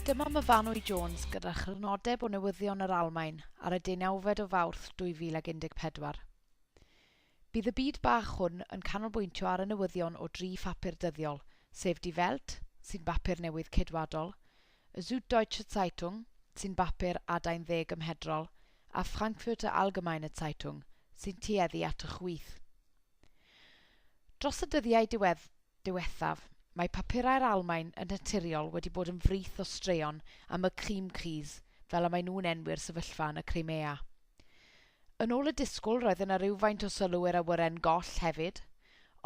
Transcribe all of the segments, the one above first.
Dyma Myfanwy Jones gyda chrynodeb o newyddion yr Almaen ar y deunawfed o Fawrth 2014. Bydd y byd bach hwn yn canolbwyntio ar y newyddion o dri phapur dyddiol, sef Die Welt, sy'n bapur newydd Ceidwadol, y Süddeutsche Zeitung, sy'n bapur adain dde gymhedrol, a Frankfurter Allgemeine Zeitung, sy'n tueddu at y chwith. Dros y dyddiau diwedd, diwethaf, mae papurau'r Almaen yn naturiol wedi bod yn frith o straeon am y Krimkriz, fel y maen nhw'n enwi'r sefyllfa yn y Crimea. Yn ôl y disgwyl roedd yna rywfaint o sylw i'r awyren goll hefyd,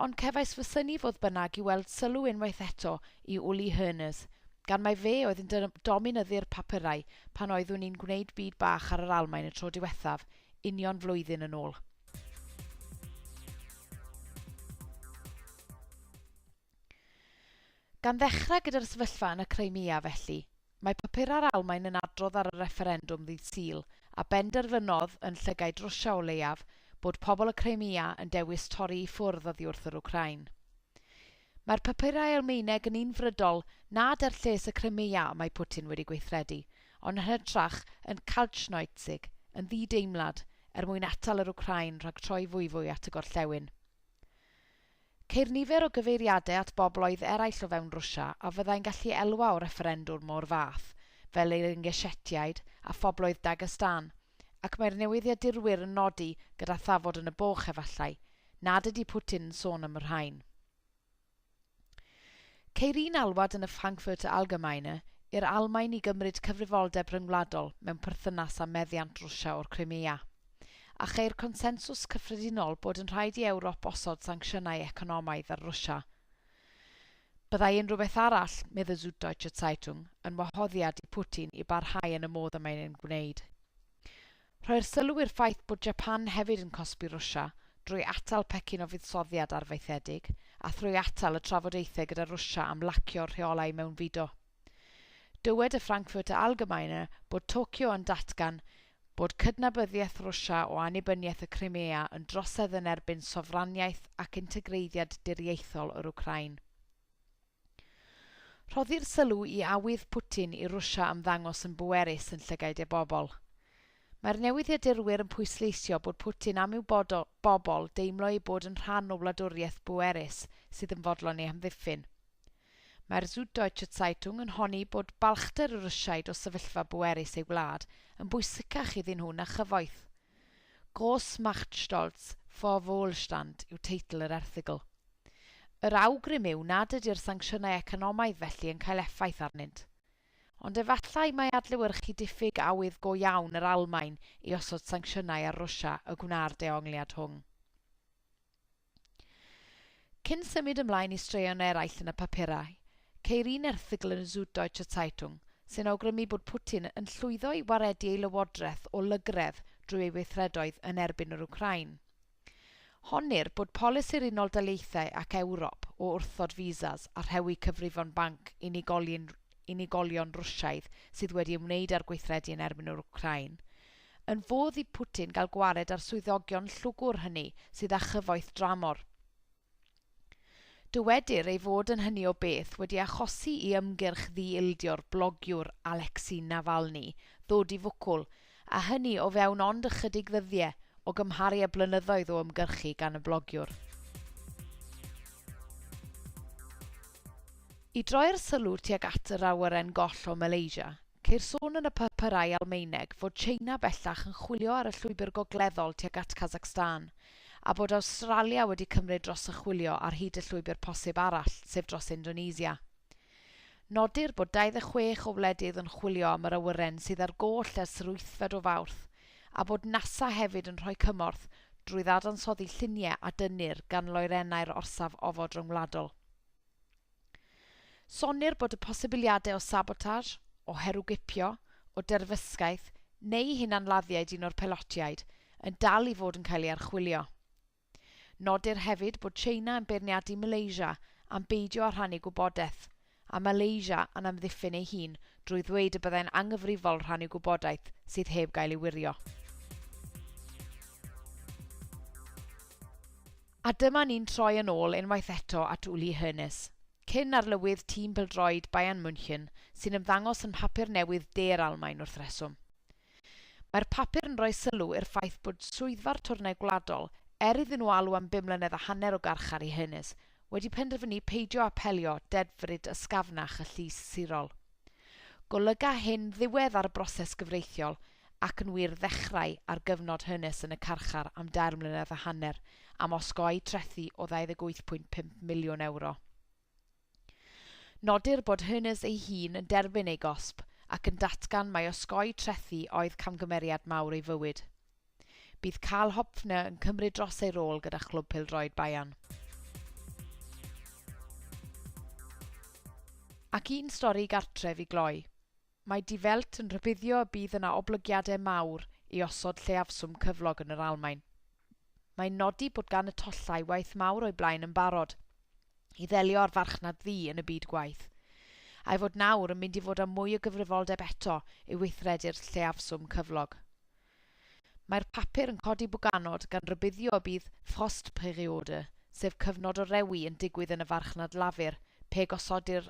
ond cefais fy synnu fodd bynnag i weld sylw unwaith eto i Uli Hoeners, gan mai fe oedd yn dominyddu'r papurau pan oeddwn i'n gwneud bid bach ar yr Almaen y tro diwethaf, union flwyddyn yn ôl. Gan ddechrau gyda'r sefyllfa yn y Crimea, felly, mae papurau'r Almaen yn adrodd ar y refferendwm ddydd Sul, a benderfynodd, yn llygaid Rwsia o leiaf, bod pobl y Crimea yn dewis torri i ffwrdd oddi wrth yr Wcráin. Mae'r papurau Almaeneg yn un frydol nad er lles y Crimea y mae Putin wedi gweithredu, ond yn hytrach yn Kaltschneuzig, yn ddi-deimlad, er mwyn atal yr Wcráin rhag troi fwyfwy at y gorllewin. Ceir nifer o gyfeiriadau at bobloedd eraill o fewn Rwsia a fyddai'n gallu elwa o refferendwr mo'r fath, fel yr Ingeshetiaid a phobloedd Dagestan, Ac mae'r newyddiadurwyr yn nodi, gyda thafod yn y boch efallai, nad ydy Putin yn sôn am y rhain. Ceir un alwad yn y Frankfurter Allgemeine i'r Almaen i gymryd cyfrifoldeb rhyngwladol mewn perthynas â meddiant Rwsia o'r Crimea. A cheir consensws cyffredinol bod yn rhaid i Ewrop osod sancsiynau economaidd ar Rwsia. Byddai unrhyw beth arall, medd y Süddeutsche Zeitung, yn wahoddiad i Putin i barhau yn y modd y mae'n ein gwneud. Rhoi'r sylw i'r ffaith bod Japan hefyd yn cosbi Rwsia drwy atal pecyn o fuddsoddiad arfaethedig a thrwy atal y trafodaethau gyda Rwsia am lacio'r rheolau mewnfudo. Dywed y Frankfurter Allgemeine bod Tokyo yn datgan bod cydnabyddiaeth Rwsia o annibyniaeth y Crimea yn drosedd yn erbyn sofraniaeth ac integreiddiad diriaethol yr Wcráin. Rhoddir sylw i awydd Putin i Rwsia ymddangos yn bwerus yn llygaid ei bobl. Mae'r newyddiadurwyr yn pwysleisio bod Putin am i'w bobl deimlo eu bod yn rhan o wladwriaeth bwerus sydd yn fodlon ei hamddiffyn. Mae'r Süddeutsche Zeitung yn honni bod balchder y Rwsiaid o sefyllfa bwerus ei wlad yn bwysicach iddyn nhw na chyfoeth. Gross Macht Stolz vor Wohlstand yw teitl yr erthygl. Yr awgrym yw nad ydy'r sancsiynau economaidd felly yn cael effaith arnynt. Ond efallai mai adlewyrchu diffyg awydd go iawn yr Almaen i osod sancsiynau ar Rwsia y gwna'r dehongliad hwng. Cyn symud ymlaen i straeon eraill yn y papurau, ceir un erthygl yn y Süddeutsche Zeitung sy'n awgrymu bod Putin yn llwyddo i waredu ei lywodraeth o lygredd drwy ei weithredoedd yn erbyn yr Wcráin. Honnir bod polisi'r Unol Daleithiau ac Ewrop o wrthod visas a rhewi cyfrifon banc unigolion Rwsiaidd sydd wedi ymwneud â'r gweithredu yn erbyn yr Wcráin Yn fodd i Putin gael gwared ar swyddogion llwgwr hynny sydd â chyfoeth dramor. Dywedir ei fod yn hynny o beth wedi achosi i ymgyrch ddi-ildio'r blogiwr Alexei Navalny ddod i fwcwl, a hynny o fewn ond ychydig ddyddie o gymharu â blynyddoedd o ymgyrchu gan y blogiwr. I droi'r sylw tuag at yr awyren goll o Malaysia, Ceir sôn yn y papyrau Almaeneg fod Tsieina bellach yn chwilio ar y llwybr gogleddol tuag at Kazakhstan, a bod Awstralia wedi cymryd dros y chwilio ar hyd y llwybr posib arall, sef dros Indonesia. Nodir bod 26 o wledydd yn chwilio am yr awyren sydd ar goll ers yr wythfed o Fawrth, a bod NASA hefyd yn rhoi cymorth drwy ddadansoddi lluniau a dynnir gan loerennau'r orsaf ofod ryngwladol. Sonnir bod y posibiliadau o sabotage, o herwgipio, o derfysgaeth neu hunanladdiaid un o'r pelotiaid yn dal i fod yn cael ei archwilio. Nodir hefyd bod China yn beirniadu Malaysia am beidio â rhannu gwybodaeth, a Malaysia yn amddiffyn ei hun drwy ddweud y byddai'n anghyfrifol rhannu gwybodaeth sydd heb gael ei wirio. A dyma ni'n troi yn ôl unwaith eto at Uli Hoeneß, cyn arlywydd tîm pêl-droed Bayern München, sy'n ymddangos yn mhapur newydd de'r Almaen wrth reswm. Mae'r papur yn rhoi sylw i'r ffaith bod swyddfa'r twrnai gwladol, er iddyn nhw alw am bum mlynedd a hanner o garchar i Hoeneß, wedi penderfynu peidio apelio dedfryd ysgafnach y Llys Sirol. Golyga hyn ddiwedd ar y broses gyfreithiol, Ac yn wir, ddechrau ar gyfnod hynys yn y carchar am dair mlynedd a hanner am osgoi trethi o €28.5 miliwn. Nodir bod hynys ei hun yn derbyn ei gosb ac yn datgan mai osgoi trethi oedd camgymeriad mawr ei fywyd. Bydd Karl Hopfner yn cymryd dros ei rôl gyda Chlwb Pêl-droed Bayern. Ac un stori gartref i gloi. Mae Die Welt yn rhybuddio y bydd yna oblygiadau mawr i osod lleiafswm cyflog yn yr Almaen. Mae'n nodi bod gan y tollau waith mawr o'i blaen yn barod i ddelio â'r farchnad ddu yn y byd gwaith, a'i fod nawr yn mynd i fod â mwy o gyfrifoldeb eto i weithredu'r lleiafswm cyflog. Mae'r papur yn codi bwganod gan rybuddio y bydd Frostperiode, sef cyfnod o rewi yn digwydd yn y farchnad lafur pe gosodir